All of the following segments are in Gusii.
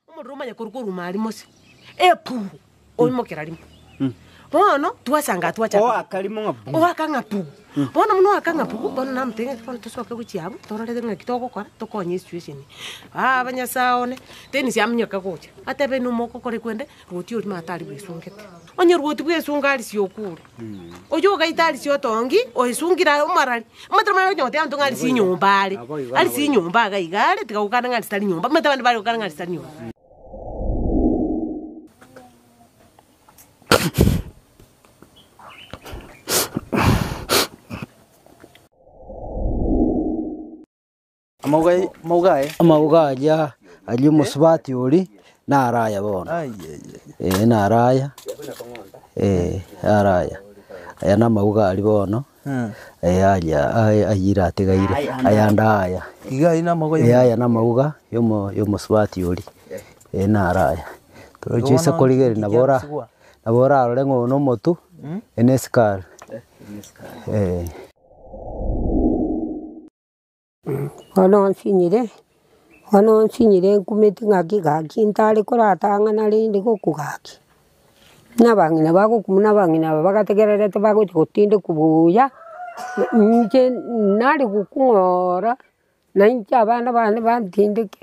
Omorero omanye korwa koruma aria Mose, epu, oimokera rimo. Bono twasanga twacha Oaka rimo ng'a bu. oaka ng'a pu bono buna oaka ng'a pu bono namotebia ng'a bono tosoke gochia abwo torore ng'aki togokora tokonye esituesheni. Aaba nyasae one, teni siaminyoka gocha. Atebe inwe mogokora ekwende, Rwoti oria mato aria bwesungete. Onye rwoti bwesunga arisia okure, oyio ogaita arisia otongi oesungire are omarari, omanyete omanyete onye goteba ng'a arisia enyomba are, arisia enyomba iga iga are, tiga gokana ng'a arisia tari nyomba, omanyete abande bare gokana ng'a arisia tari nyomba. Amauga aye. Amauga aria aria omosubati oria naro aya bono. Ee, naro aya. Ee, naro aya. Aya namauga aria bono. Ee, aria aye ayio iratigaire. Ayande aya. Ee, aya namauga yomo- yomosubati oria. Ee, naro aya. Toroche ase korigereria nabo ora- nabo orarore ng'a oyo nomotu, eye nesikaari. Ee. Bono nsinyire, bono nsinyire nkumeti ng'aki gaki ntare koratang'ana rende gokogaki. Buna abang'ina bagoku buna abang'ina aba bagategererete bagochi gotindekwa buya, inche nare gokung'ora nainche abana bane bantindeke.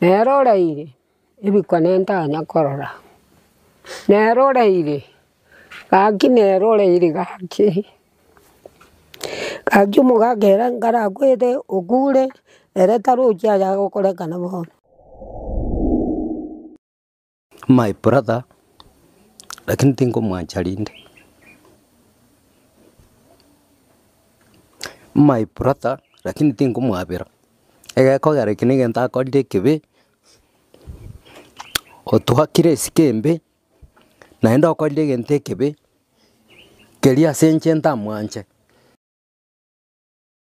Nere oraire ebikone ntanya korora, nere oraire gaki nere oraire gaki, gaki omogaka ere nkarakwete okure ere tarochi ayagokorekana bono. My brother lakini tingomwancha rinde. My brother lakini tingomwabera. Egekogera eke nigo ntakorire ekibe, otuakire esike embe, naende okorire egento ekibe, keria ase inche ntamwanche.